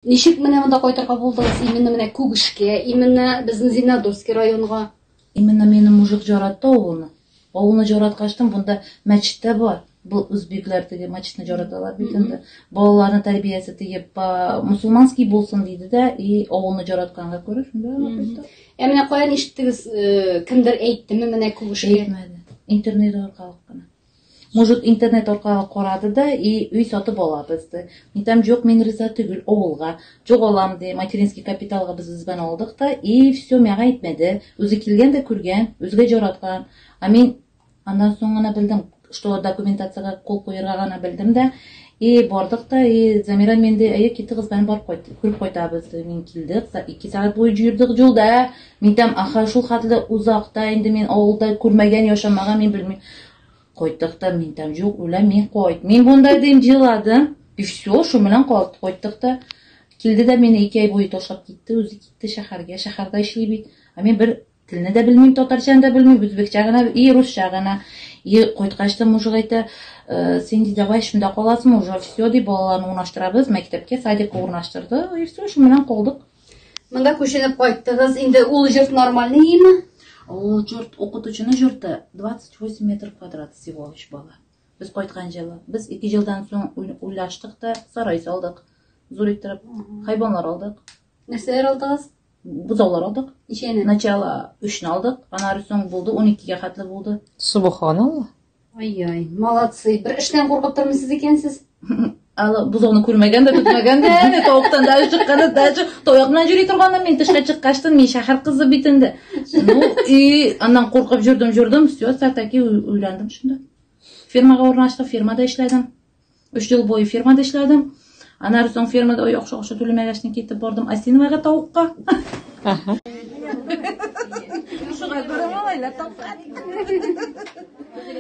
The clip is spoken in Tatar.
Ничек менә монда кайтырга булдыгыз? Именно менә Күгешкә, именно безнең Зиннадурский районга. Именно минем мужик жаратты авылны. Авылны жараткачтын бунда мәчет тә бар. Бу үзбекләр теге мәчетне жараталар бит инде. Балаларны тәрбиясе тиеп, ба, мусулманский булсын диде дә, и авылны жаратканга күрә шунда гына кайтты. Ә менә каян ишеттегез, э, кемдер әйттеме менә Күгешкә? Әйтмәде. Интернет аркылы гына. Может интернет аркагы карады да и өй сатып алабыз ди. Мин там җок мин риза төгел авылга. Җок алам ди, материнский капиталга без үзбән алдык та и все миңа әйтмәде. Үзе килгән дә күргән, үзгә җараткан. А мин аннан соң гына белдем, что документацияга кул куерга гына белдем дә И бардык та, и Замира мин дә, әйе китегез, бән бар кайт, күреп кайтабыз. Мин килдек, за ике сәгать буе җөрдек җулда. Мин тәм аха шул хәтле узакта инде мин авылда күрмәгән, яшамаган мин белмим. Кайттык та мин тәм җук, үлә мин кайт. Мин бунда дим җиладым. И все, шу белән калт, кайттык та. Килде дә мине ике ай буе ташлап китте, үзе китте шәһәргә, шәһәрдә эшли бит. Ә мин бер Телне дә белмим, татарчаны да белмим, үзбекчә генә и русча гына. И кайткач та мужик әйтә, «Э, син ди давай шунда каласыңмы, уже все ди балаларны урнаштырабыз, мәктәпкә, садикка урнаштырды. И все, шуның белән калдык. Монда күченеп кайттыгыз. Инде ул җорт нормальный име? Ул җорт укытучының җорты 28 метр квадрат всего лишь бала. Без кайткан җылы. Без 2 елдан соң уйлаштык та сарай салдык. Зур иттереп хайванлар алдык. Нәрсәләр алдыгыз? бозаулар алдык. Ничәне? Начало өчне алдык, аннары соң булды, уникегә хәтле булды. Субханалла. Ай-яй, молодцы. Бер эштән куркып тормыйсыз икәнсез. Ала бозауны күрмәгән дә, көтмәгән дә, әнә тавыктан да чыкканы да, таяк белән йөри торганнан мин тышка чыккачтын, мин шәһәр кызы бит инде. Ну, и аннан куркып жүрдем, жүрдем, все, таки уйландым шунда. Фирмага урнаштым, фирмада эшләдем. Өч ел буе фермада эшләдем. Аннары соң фермада яхшы акча түләмәгәчне китеп бардым Асиновага тавыкка. Шуга күрә малайлар тапкан.